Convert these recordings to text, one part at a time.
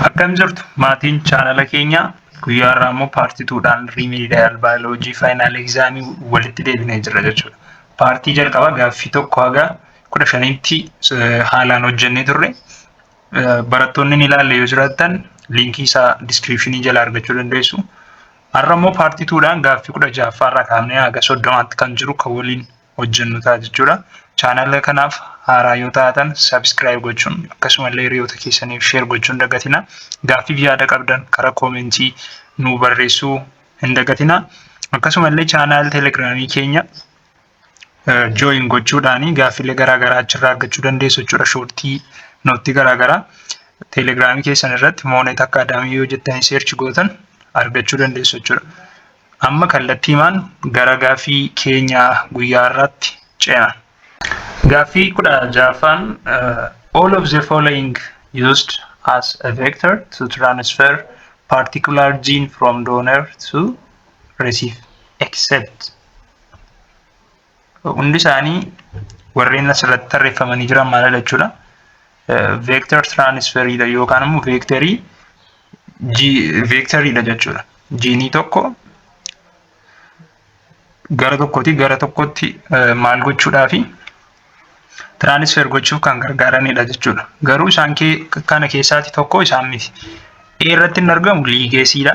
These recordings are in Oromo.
Akkam jirtu maatiin chaanala keenyaa guyyaa irraa immoo paartii tuudhaan riimiidayaal baayoloojii faayinaal egzaamii walitti deebinee jirra jechuudha. Paartii jalqabaa gaaffii tokko haga kudha shaniitti haalaan hojjennee turre. Barattoonni ni ilaalle yoo jiraattan liinkii isaa diskiriipshinii jala argachuu dandeessu. Har'a immoo paartii tuudhaan gaaffii kudha ja'affaa irraa kaafnee haga soddomaatti kan jiru kan waliin hojjennu ta'a jechuudha. Chaanala kanaaf haaraa yoo taatan subscribe gochuun akkasumallee hiriyoota keessaniif share gochuun dagatina. Gaaffiif yaada qabdan karaa koomentii nuu barreessuu hin dagatina. Akkasumallee chaanal telegiraamii keenya join gochuudhaan gaaffilee garaagaraa achirraa argachuu dandeessu jechuudha. Shoortii nootii garaagaraa telegiraamii keessan irratti moonet akkaadaamii yoo jettanii seerchi gootan argachuu dandeessu jechuudha. Amma kallattiimaan gara gaaffii keenya guyyaa har'aatti ceena. Gaaffii kudha ja'affaan all of the following used as a vector to transfer particular gene from donor to receive except Hundi isaanii warreen asirratti tarreeffamanii jiran maalidha jechuudha. Veektar tiraanisferiidha yookaan immoo veektarii veektariidha jechuudha. Jiinii tokko gara tokkooti gara tokkotti maal gochuudhaa fi tiraanisfer gochuuf kan gargaaranidha jechuudha. Garuu isaan kana keessaati tokko isaan miti. A irratti hin argamu liigeesiidha.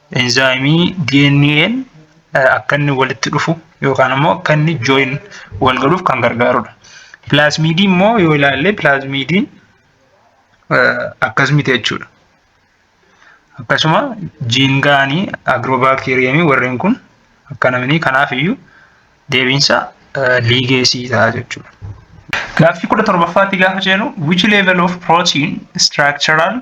Enzaayimii DNA'n akka inni walitti dhufu yookaan immoo akka inni join wal godhuuf kan gargaarudha. Pilaazmiidii immoo yoo ilaalle pilaazmiidiin akkas miti jechuudha. Akkasuma jiingaanii agiroobaakteeriyeemii warreen kun akka namni kanaaf iyyuu deebiinsa liigeesii ta'a jechuudha. Gaaffii kudha torbaffaatti gaafa jennu which level of protein structural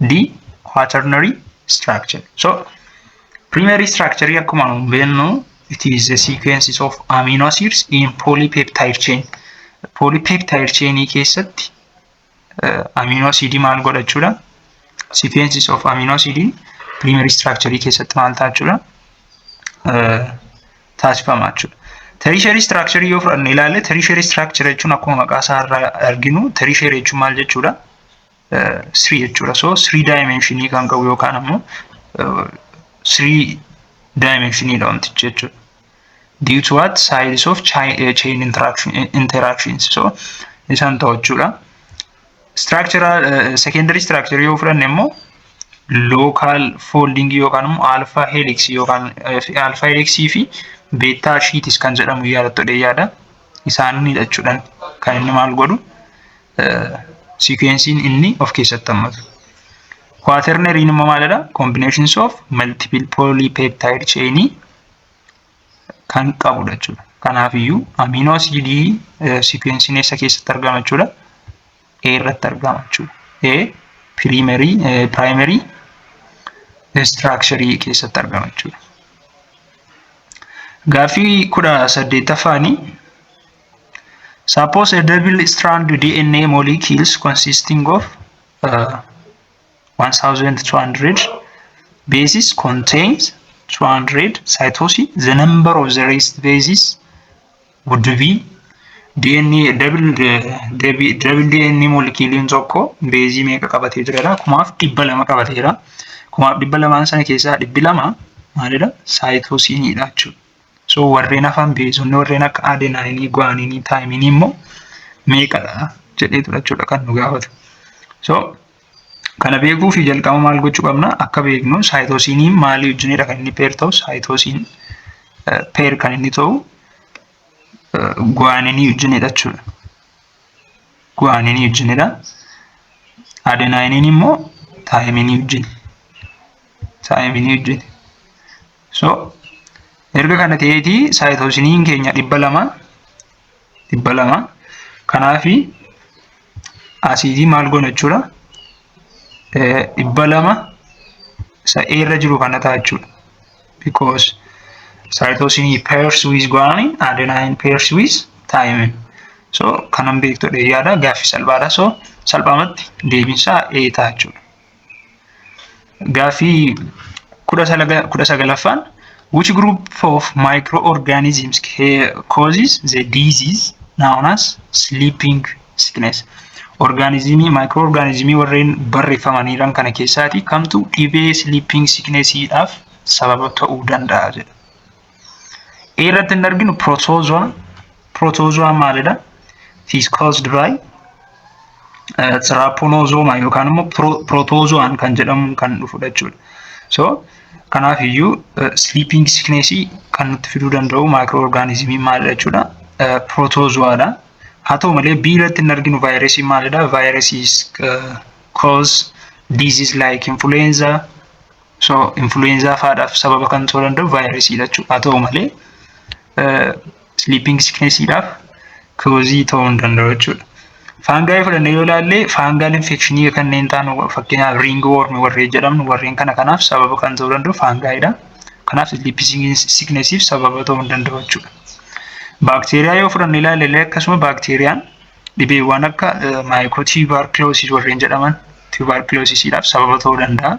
D. Quaternary structure. So, primary structure akkuma nu beeknu it is a sequences of amino acids in polypeptide chain. Polypeptide chain keessatti uh, amino acid maal godha jechuudha? Sequences of amino acid primary structure keessatti maal ta'a jechuudha? Uh, taasifama jechuudha. Tertiary structure yoo fudhanne ilaalle tertiary structure jechuun akkuma maqaa isaa irraa arginu tertiary jechuun maal jechuudha? 3 jechuudha. So 3 daayimeenshinii kan qabu yookaan ammoo 3 daayimeenshinidha wantichi jechuudha. Due to what sides of chain interactions so isaan ta'u jechuudha. Structural secondary structure yoo fudhanne immoo local folding yookaan immoo alpha helix yookaan alpha helix fi beta sheetis kan jedhamu yaadattodhe yaada. Isaanidha jechuudhaan kan inni maal godhu sikweensiin inni of keessatti hammatu. Quaternariin immoo maalidha? Combinations of multiple polypeptide chain kan qabudha jechuudha. Kanaafiyyuu amino asidii sikweensiin eessa keessatti argama jechuudha? A irratti argama jechuudha. A primary primary structure keessatti argama jechuudha. Gaaffii kudha saddeettaffaanii Suppose a double strand DNA molecules consisting of uh, 1200 bases contains 200 cytosine. The number of the rest bases would be DNA double double double DNA moleculein tokko beezii meeqa qabatee jira kumaaf dhibba lama qabatee jira kumaaf dhibba lamaan sana keessaa dhibbi lama maalidha saayitoosiiniidha jechuudha. So warreen hafan beezonni warreen akka adenaayinii, guwaaniinii, taayiminii immoo meeqadha jedhee tura jechuudha kan nu gaafatu. So kana beekuu fi jalqaba maal gochuu qabna akka beeknu saayitoosiinii maalii wajjinidha kan inni peer ta'u saayitoosiin peer kan inni ta'u guwaaniinii wajjinidha jechuudha. Guwaaniinii wajjinidha. Adenaayiniin immoo taayiminii wajjin. Taayiminii wajjin. So erga kana ta'eeti saayitoosiniin keenya dhibba lama dhibba lama kanaafi asiidii maal goona jechuudha dhibba lama isa A irra jiru kana ta'a jechuudha. Because saayitoosinii pairs with guanine adenine pairs with thymine. So kanan beektudha yaada gaaffii salphaadha. So salphaamatti deebiinsaa A ta'a jechuudha. Gaaffii kudha salaga- kudha sagalaffaan which group of microorganisms ca- causes the disease known as sleeping sickness orgaanizimii maayikirooorgaanizimii warreen barreeffamaniiran kana keessaati kamtu dhibee sleeping sickness dhaaf sababa ta'uu danda'a jedha irratti hin arginu protozoa protozoa maalidha is caused by tsiraapponozooma yookaan immoo protozoan kan jedhamu kan dhufudha jechuudha. So kanaaf iyyuu sleeping sickness kan nutti fiduu danda'u maayikiroo orgaanizimii maalidha jechuudha protozoadha. Haa ta'u malee B irratti hin arginu vaayirasii maalidha vaayirasii cause disease like influenza So influenza faadhaaf sababa kan ta'uu danda'u vaayirasiidha jechuudha. Haa ta'u malee sleeping sicknessiidhaaf koozii ta'uu hin danda'u jechuudha. Faangaayii fudhannee yoo ilaalle faangaal infekshinii kanneen ta'an fakkeenyaaf riing woormi warreen jedhamnu warreen kana kanaaf sababa kan ta'uu danda'u faangaayidha. Kanaaf sleeping sicknessiif sababa ta'uu hin danda'u jechuudha. Baakteeriyaa yoo fudhannee ilaalle akkasuma baakteeriyaan Dhibeewwan akka maayikootiibaarkiloosii warreen jedhaman tiibaarkiloosisiidhaaf sababa ta'uu danda'a.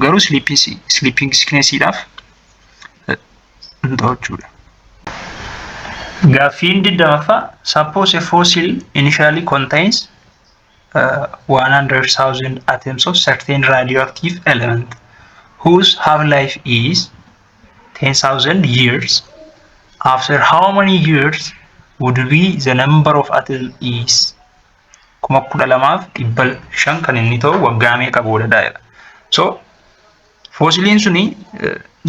Garuu siliipping siikneesiidhaaf hin ta'u jechuudha. Gaaffiin digdamaffaa suppose a fossil initially contains uh, 100,000 atoms of certain radioactive element whose half-life is 10,000 years after how many years would be the number of atom is kuma kudha lamaaf dhibba shan kan inni ta'u waggaa meeqa booda daa'edha. So foosiliin suni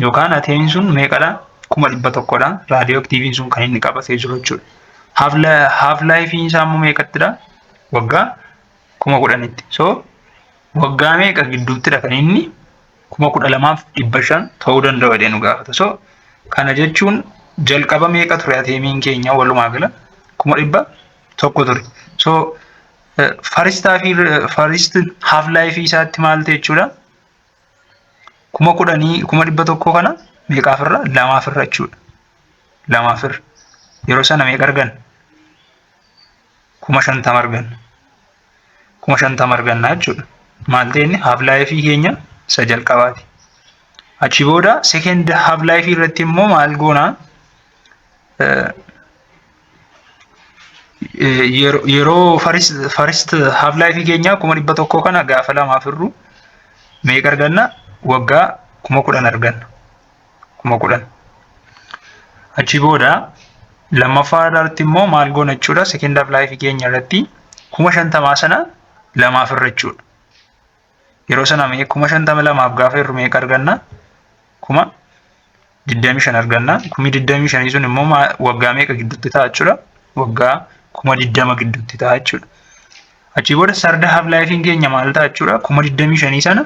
yookaan ateemiin sun meeqadha kuma dhibba tokkodha raadiyoo aktiiviin sun kan inni qabatee jiru jechuudha. Haaf laayifiin isaa immoo meeqattidha waggaa kuma kudhanitti. So waggaa meeqa gidduuttidha kan inni kuma kudha lamaaf dhibba shan ta'uu danda'u jedhee nu gaafata. So kana jechuun jalqaba meeqa ture ateemiin keenya walumaa gala kuma dhibba tokko ture. So faristaa fi farist haaf laayifii isaatti maal ta'e jechuudha? Kuma kudhanii kuma dhibba tokkoo kana meeqaaf irra lamaaf irra jechuudha. Lamaaf irra yeroo sana meeqa argan? Kuma shantama argan. kuma shantama arganna jechuudha. Maal ta'e inni haaf laayifii keenya isa jalqabaati. Achi booda seekend haaf laayifii irratti immoo maal goona yeroo farist haaf laayifii keenya kuma dhibba tokkoo kana gaafa lamaaf hir'u meeqa arganna waggaa kuma kudhan arganna. kuma kudhan. Achi booda lammaffaa irratti immoo maal goona jechuudha second half life keenya irratti kuma shantamaa sana lamaaf irra jechuudha. Yeroo sana mee kuma shantama lamaaf gaafa irru meeqa arganna? Kuma digdamii shan arganna. Kumi digdamii shanii sun immoo waggaa meeqa gidduutti ta'a jechuudha? Waggaa kuma digdama gidduutti ta'a jechuudha. Achi booda sarda half life keenya maal ta'a jechuudha? Kuma digdamii shanii sana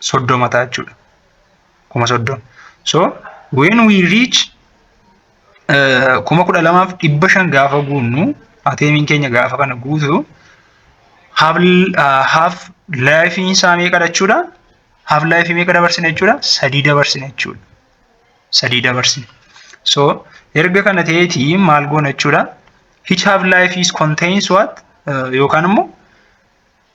soddoma ta'a jechuudha. Kuma soddoma. So when we reach uh, kuma kudha lamaaf dhibba shan gaafa guunnu ateemiin keenya gaafa kana guutu haaf uh, haaf laayifiin isaa meeqa jechuudha? Haaf laayifii meeqa dabarsina jechuudha? Sadii dabarsina jechuudha. Sadii dabarsina. So erga kana ta'eetii maal goona jechuudha? Each half life is contains what? Uh, yookaan immoo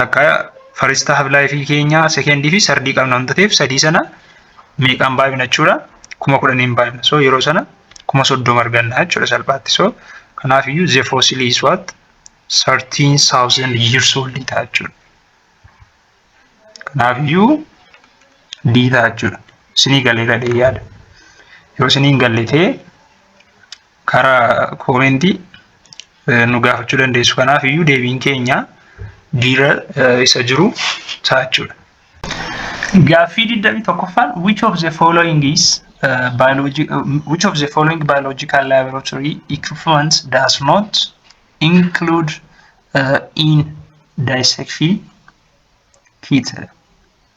takka first half life keenya second fi third qabna waan ta'eef sadii sana meeqaan baay'ina jechuudha kuma kudhaniin baay'ina so yeroo sana kuma soddoma arganna jechuudha salphaatti so kanaaf iyyuu the fossil is what 13,000 years old ta'a jechuudha kanaaf iyyuu D ta'a jechuudha isinii galee gadhee yaada yoo isiniin galletee karaa koomentii nu gaafachuu dandeessu. Kanaaf iyyuu deebiin keenya biira isa jiru taachuudha. Gaaffii 21ffaan which of the following is uh, biology uh, which of the following biological laboratory equipments does not include uh, in dissection kit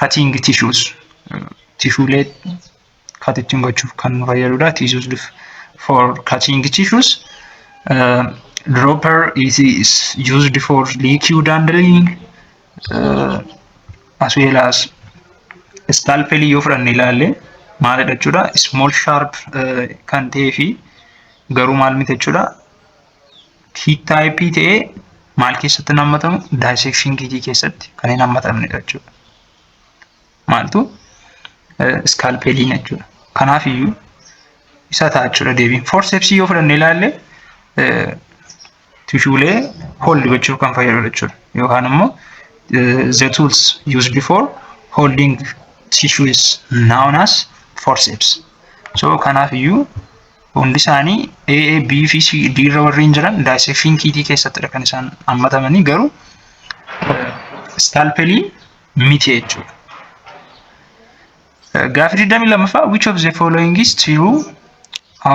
cutting tissues tishuulee cut ittiin gochuuf kan nu fayyadudha tissues for cutting tissues uh, dropper is, is used for liquid handling uh, as well as scalpel yoo fudhanne ilaalle maalidha jechuudha small sharp uh, kan ta'ee fi garuu maal miti jechuudha Sheet type ta'ee maal keessatti hin hammatamu? Dissection kit keessatti kan hin hammatamne jechuudha. Maaltu? Scalpeliin jechuudha. Kanaaf iyyuu isa ta'a jechuudha deebiin. Forceps yoo fudhanne ilaalle tishuulee hold gochuuf kan fayyadudha jechuudha. Yookaan immoo the tools used before holding tissue is known as forceps. So kanaaf iyyuu Hundi isaanii A, A, B fi C, D irra warri hin jiran daayisekshin kiitii keessattidha kan isaan hammatamanii garuu iskaalpelii miti jechuudha. Gaafi 22ffaa which of the following is true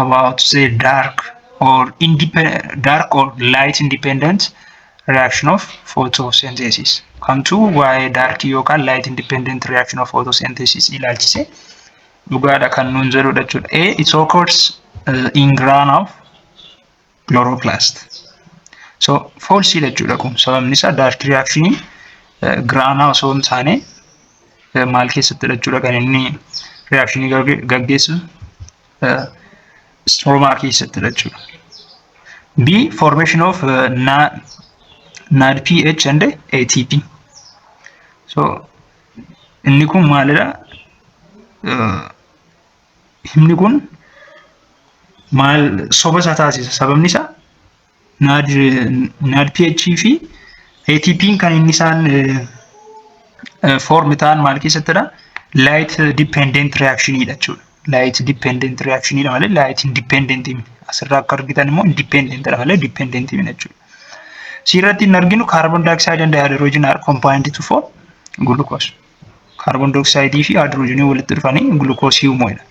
about the dark or independent dark or light independent reaction of photosynthesis kamtu waa'ee dark yookaan light independent reaction of photosynthesis ilaalchise dhugaadha kan nuun jedhudha jechuudha. A is occurs uh, in grain of chloroplast. So false jechuudha kun sababni isaa dark reaction uh, grain osoo hin taane uh, maal keessatti jechuudha kan inni reaction gaggeessu uh, stroma keessatti jechuudha. B formation of uh, NAD, NADPH and ATP. So Inni kun maalidha? Himni kun maal soba isaa taasisa. Sababni isaa NAD pH fi ATP kan inni isaan foorm ta'an maal keessattidha? Light dependent reaction dha jechuudha. light dependent reaction dha malee light independent miti. Asirraa akka argitan immoo independent dha malee dependent miti jechuudha. Asirratti hin arginu carbon dioxide and hydrogen are combined to form glucose. Carbon dioxide fi hydrogen walitti dhufanii glucose uumuu dha.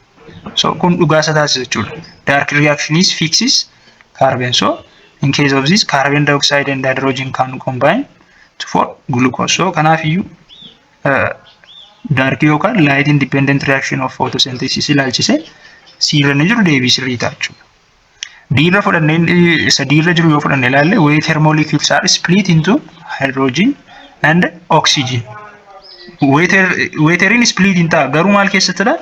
So kun dhugaa isa taasisa jechuudha. Dark reaction is fixes carbon. So in case of this carbon dioxide and hydrogen can combine to form glucose. So kanaaf iyyuu daarkii yookaan light independent reaction of photosynthesis ilaalchise siirra ni jiru deebii sirrii ta'a jechuudha. Diirra fudhannee isa diirra jiru yoo fudhanne ilaalle way thermolecules are split into hydrogen and oxygen. Weeteriin split hin ta'a garuu maal keessattidha?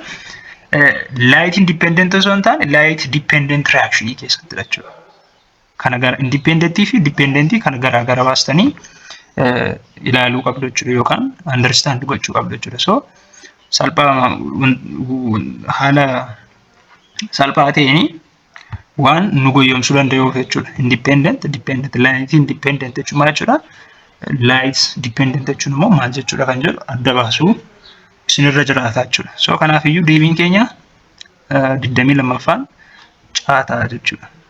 Light independent osoo hin taane light dependent reaction keessattidha jechuudha. kana gara indipendentii fi dipendentii kana garaa gara baastanii ilaaluu qabdu jechuudha yookaan understand gochuu qabdu jechuudha. So salphaa haala salphaa ta'een waan nu goyyomsuu danda'uuf jechuudha. Independent, dependent, light independent jechuun maal jechuudha? Light dependent jechuun immoo maal jechuudha kan jedhu adda baasuu isinirra jiraata jechuudha. So kanaafiyyuu deebiin keenya digdamii lammaffaan caataa jechuudha.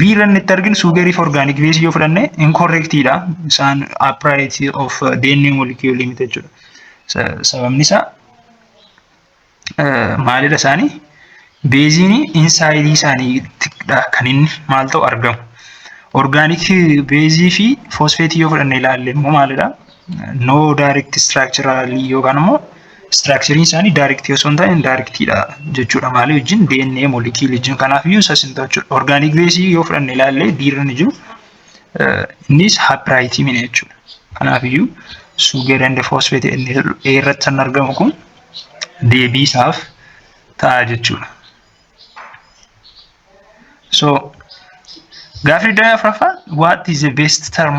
Biirra inni itti arginu suugarii fi orgaanik beesii yoo fudhanne inkorrektiidha. Isaan upright of DNA molecule miti jechuudha. Sababni isaa maalidha isaanii? Beeziin insaayidii isaaniidha kan inni maal ta'u argamu. Orgaanik beezii fi foosfeetii yoo fudhanne ilaalle immoo maalidha? no direct structural yookaan immoo structurein isaanii direct osoo hin taane indirect dha jechuudha maalii wajjin DNA molecular wajjin kanaaf iyyuu isas hin ta'u jechuudha organic base yoo fudhanne ilaallee diirri ni jiru innis haphiraayitii mina jechuudha kanaaf iyyuu sugar and phosphate inni jedhu A irratti kan argamu kun deebii isaaf ta'a jechuudha. So gaafii daayaa afraffaan what is the best term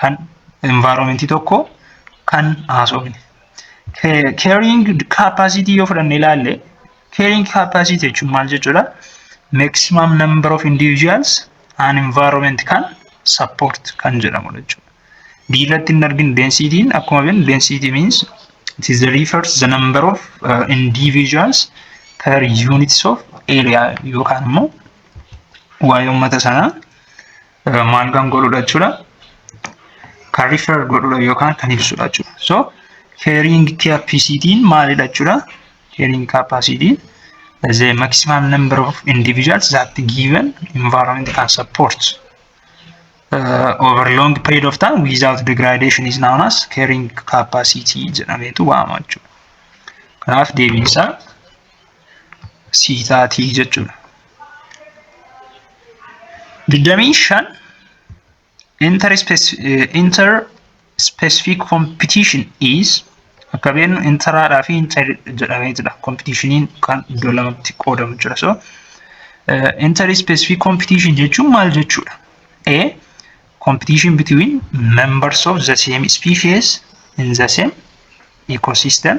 kan environment tokko kan haasofne. Carrying capacity yoo fudhanne ilaalle carrying capacity jechuun maal jechuudha? Maximum number of individuals an environment kan support kan jedhamu jechuudha. Biirratti hin argin densitiin akkuma beeknu density means it is the refers the number of uh, individuals per units of area yookaan immoo waa'ee uummata sanaa maal kan godhudha jechuudha. Kan rifer godhudha yookaan kan ibsudha jechuudha. So carrying capacity maalidha jechuudha. Carrying capacity is the maximum number of individuals that given environment can support. Uh, over long period of time without degradation is known as carrying capacity jedhameetu waamama jechuudha. Kanaaf deebiin isaa sii taatii jechuudha. 25 inter specific competition is akka beeknu interaadhaa fi inter jedhamee jira kompitiishiniin kan iddoo lamatti qoodamu jira so inter specific competition jechuun maal jechuudha a competition between members of the same species in the same ecosystem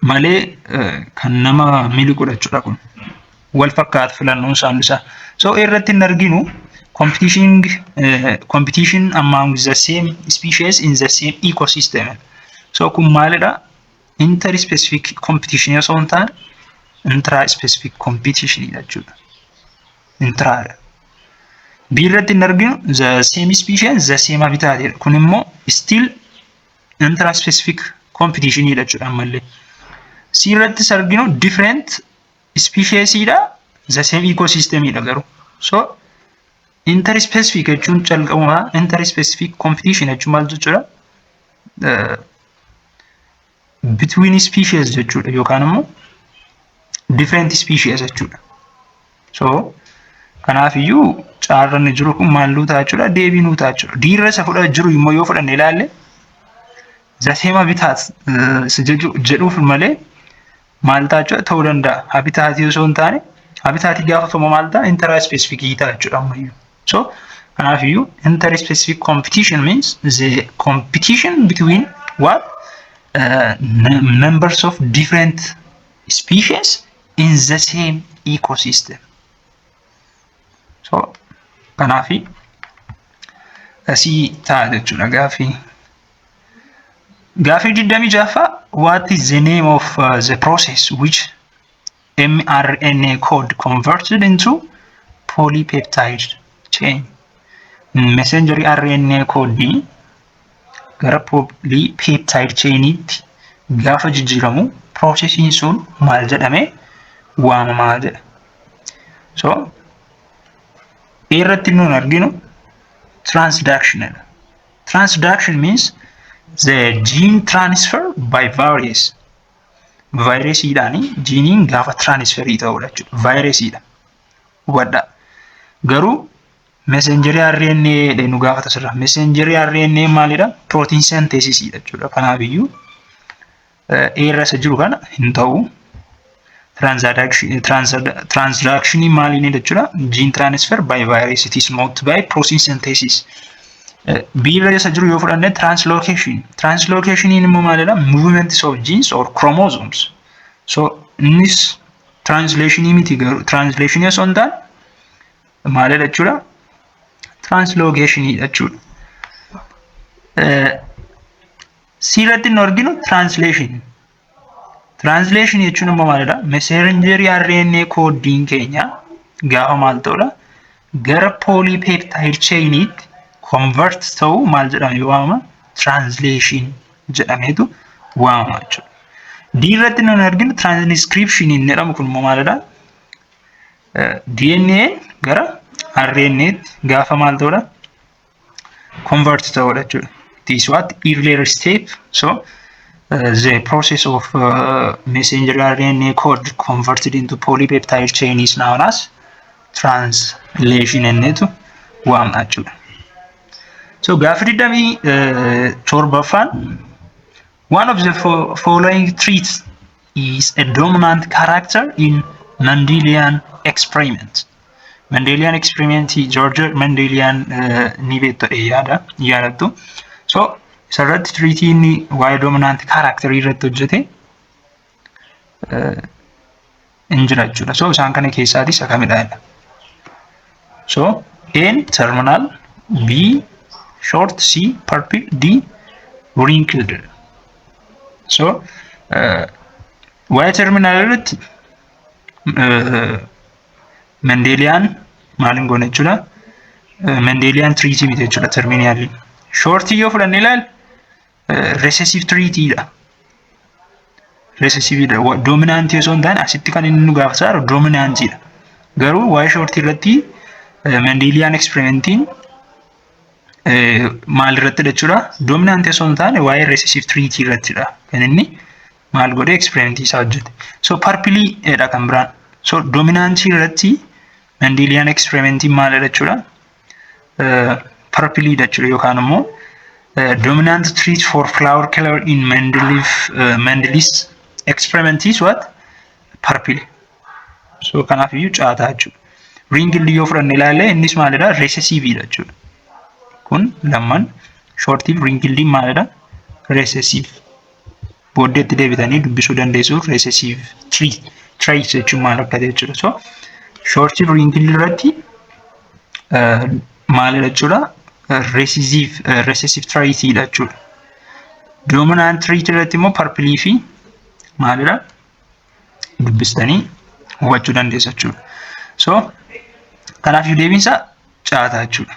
malee kan nama mili godhachuudha kun wal fakkaata filannoon saamni isaa so irratti hin arginu competition competition among the same species in the same ecosystem so kun maalidha inter specific competition osoo hin taane intra specific competition jechuudha intra B irratti hin arginu the same species the same habitat kun immoo still Intra specific competition dha jechuudha ammallee. C irratti arginu different species dha the same ecosystem dha garuu. So inter specific jechuun calqabuma inter specific competition jechuun maal jechuudha? Between species jechuudha yookaan immoo different species jechuudha. So kanaaf iyyuu caarra inni jiru kun maal nuu ta'a jechuudha deebii nuu ta'a jechuudha. Diirra isa fudha jiru immoo yoo fudhanne ilaalle zaseema bitaat isa jechu- jedhuuf malee maal ta'a jechuudha ta'uu danda'a. Habitaatii osoo hin taane habitaatii gaafa ta'u maal ta'a intara ispeesifikii ta'a jechuudha ammayyuu. So kanaaf iyyuu intara ispeesifik competition means the competition between what uh, num- numbers of different species in the same ecosystem. So kanaaf asii ta'a jechuudha gaaffii. Gaaffii 26ffaa what is the name of uh, the process which mRNA code converted into polypeptide chain messenger RNA code gara poolii peeptaayid cheeniitti gaafa jijjiiramu piroosesiin sun maal jedhame waamamaa jedha. So irratti nuun arginu transduction jedha. Transduction means the gene transfer by virus. Vaayiresiidhaan jiiniin gaafa tiraanisferii ta'udha jechuudha. Vaayiresiidha. Hubadhaa. Garuu Messenjerii RNA dha nu gaafata sirra. Messenjerii RNA maalidha? Protein synthesis dha jechuudha. Kanaaf iyyuu eerra isa jiru kana hin ta'u. Transaction maaliin jechuudha? Gene transfer by virus it is not by protein synthesis. Biirra isa jiru yoo fudhanne translocation. Translocation immoo maalidha? Movements of genes or chromosomes. So innis translation miti garuu translation osoo hin taane maalidha jechuudha? Tiraanslogeeshiniidha jechuudha. Siirratti nu arginu tiraansleeshinii. Tiraansleeshinii jechuun immoo maalidha? Meseenjerii RNA koodiin keenya gaafa maal ta'udha? Gara pooliipeeptaayid cheeyiniitti konvert ta'u maal jedhamee waamama? Tiraansleeshin jedhameetu waamama jechuudha. D irratti nu arginu tiraanskripshinii inni jedhamu kun immoo maalidha? DNAn gara RNAtti gaafa maal ta'udha? Convert ta'udha jechuudha. It is what earlier step. So uh, the process of uh, messenger RNA code converted into polypeptide chain is known as translation jenneetu waamna jechuudha. So gaafa digdamii torbaffaan One of the fo following traits is a dominant character in Mendelian experiment. Mendelian experiment George Mendelian uh, ni beektu yaada yaadattu. So isarratti tiriitii inni waa'ee dominant character irratti hojjete hin jira jechuudha. So isaan kana keessaatis isa kamidha jedha. So A'n terminal B short C purple D wrinkled. So waa'ee terminal irratti Mendelian maaliin goone jechuudha. Mendelian treaty miti jechuudha terminal. Shortii yoo fudhanne ilaal recessive trait dha. Recessive dha. Dominant osoo hin taane asitti kan inni nu gaafataa jiru dominant dha. Garuu waa'ee short irratti Mendelian experimentiin maal irratti jechuudha? Dominant osoo hin taane waa'ee recessive trait irratti dha. Kan inni maal godhe experimentii isaa hojjete. So purple dha kan biraan. So dominant irratti Mandelian experiment maalidha jechuudha? Purpleedha jechuudha yookaan immoo dominant trait for flower color in Mendeleev Mendelee's experiment is what? Purple. So kanaaf iyyuu caataa jechuudha. Ring illee yoo fudhanne ilaalle innis maalidha? Recessiveedha jechuudha. Kun lamman shortiif ring illee maalidha? Recessive. booddeetti deebitanii dubbisuu dandeessu recessive tree trace jechuun maal akka ta'e jechuudha so short wrinkle irratti maalidha jechuudha recessive recessive trace dha jechuudha dominant tree irratti immoo purple fi maalidha dubbistanii hubachuu dandeessu jechuudha so kanaaf deebiinsa caataa jechuudha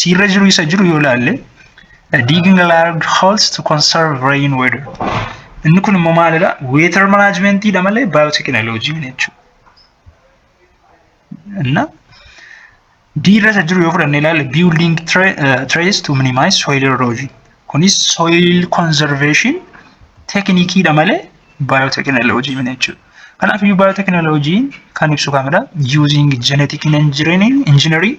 Siirra jiru isa jiru yoo ilaalle digging large holes to conserve rain water. Inni kun immoo maalidha? Water management dha malee biotechnology miti jechuudha. Inna diirra isa jiru yoo fudhannee ilaalle building trays to minimize soil erosion. Kunis soil conservation teeknikii dha malee biotechnology miti jechuudha. Kanaaf iyyuu biotechnology kan ibsu kamidha? Using genetic engineering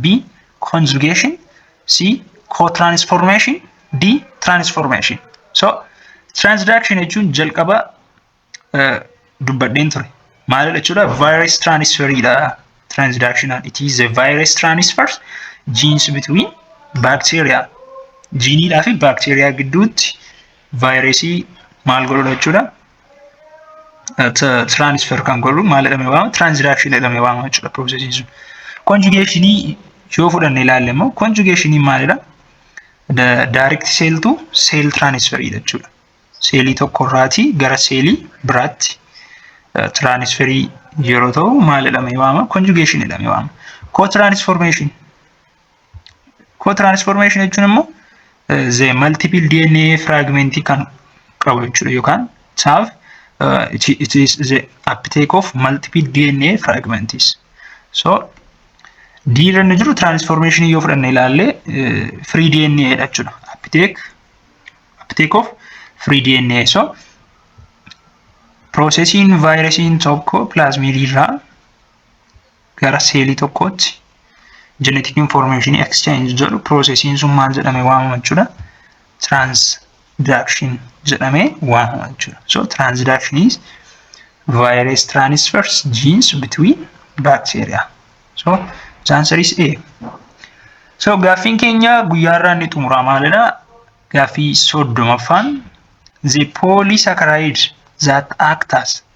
B. Conjugation C. Co-transformation D. Transformation So transduction jechuun jalqaba eh, dubbadheen ture maalidha jechuudha virus transferidha transductionan it is a virus transfer genes between bacteria jiiniidhaa fi baakteeriyaa gidduutti vaayirasii maal godhudha jechuudha transfer kan godhu maal jedhamee waama transaction jedhamee waama jechuudha processin sun conjugationii yoo fudhanne ilaalle immoo conjugationii maalidha direct sale to sale transfer jechuudha seelii tokko irraatii gara seelii biraatti transferii yeroo ta'u maal jedhamee waama conjugation jedhamee waama co-transformation Koo tiraansfoormeeshinii jechuun immoo ze maltiipil DNA firaagmentii kan qabu jechuudha yookaan saaf it is the uptake of multiple DNA fragments. So D irra inni jiru tiraansfoormeeshinii yoo fudhanne ilaallee free DNA dha jechuudha. Uptake uptake of free DNA. So piroosesiin vaayirasiin tokko pilaazmiidii irraa gara seelii tokkootti jeneetik infoormeeshinii exchange jedhu piroosesiin sun maal jedhame waamama jechuudha. Transduction jedhame waamama jechuudha. So transduction is virus transfers genes between bacteria. So the answer is A. So gaaffiin keenya guyyaarraa inni xumuraa maalidha? Gaaffii soddomaffaan the polysaccharide that act as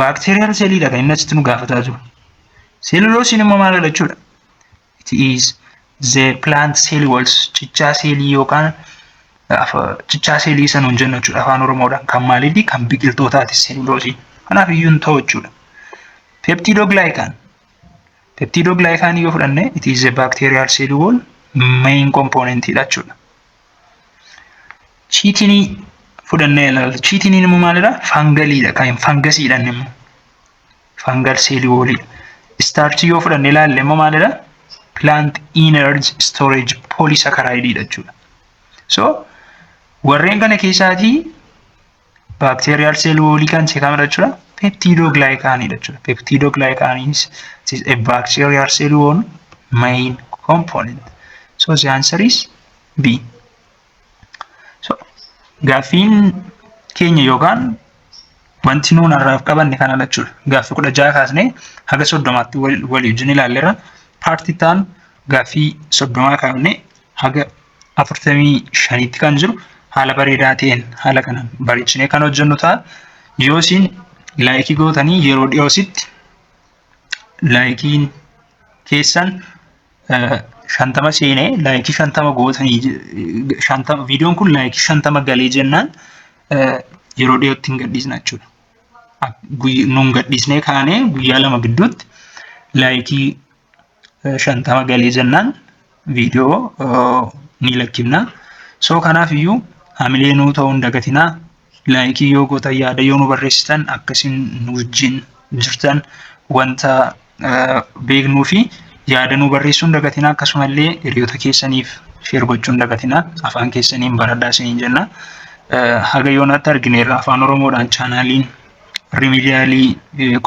Baakteeriyaal seeliidha kan inni asitti nu gaafataa jiru. Seeluloosiin immoo maal jechuudha? It is the plant cell walls cichaa seelii yookaan cichaa seelii isa nuun jennu jechuudha afaan oromoodhaan kan maaliiti kan biqiltootaati seeluloosii kanaaf iyyuu hin ta'u jechuudha. Peptidoglycan peptidoglycan yoo fudhanne it is a bacterial cell wall main component dha jechuudha. Chiitinii fudhannee ilaalla. Chiitiniin immoo maalidha? Fangaliidha. Kan fangasiidhaan immoo. Fangal seelii woolii. Istaarchii yoo fudhannee ilaalle immoo maalidha? Plant energy storage polysaccharide jechuudha. So warreen kana keessaatii baakteeriyaal seel woolii kan ishee kamidha jechuudha peptiidoo gilaayikaaniidha jechuudha peptiidoo gilaayikaaniinis is a bacterial cell wall main component so the answer is b so gaaffiin keenya yookaan wanti nuun har'aaf qabanne kana jechuudha gaaffii kudha jaha kaasnee haga soddomaatti walii wajjin ilaalleerra paartii taan gaaffii soddomaa kaafnee haga afurtamii shaniitti kan jiru haala bareedaa ta'een haala kanaan bareechinee kan hojjennu ta'a. Yoo isin laayikii gootanii yeroo dhiyoositti laayikiin keessan shantama seenee laayikii shantama gootanii shantama viidiyoon kun laayikii shantama galee jennaan yeroo dhiyootti hin gadhiisna jechuudha. Nuun gadhiisnee kaanee guyyaa lama gidduutti laayikii shantama galee jennaan viidiyoo ni lakkifna. Soo kanaaf iyyuu hamilee nuu ta'uu hin dagatinaa. Laayikii yoo gootan yaada yoo nu barreessitan akkasiin nu wajjin jirtan wanta beeknuu fi yaada nu barreessuu hin dagatinaa akkasumallee hiriyoota keessaniif sheer gochuu hin dagatinaa afaan keessaniin baradhaa isiniin jenna. Haga yoonaatti argineerra afaan oromoodhaan chaanaaliin riimidiyaalii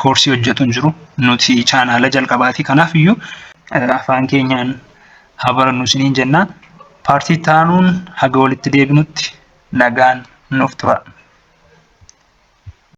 koorsii hojjetu hin jiru. Nuti chaanaala jalqabaati. Kanaaf iyyuu afaan keenyaan haa barannu isiniin jenna. Paartii taanuun haga walitti deebinutti nagaan nuuf tura.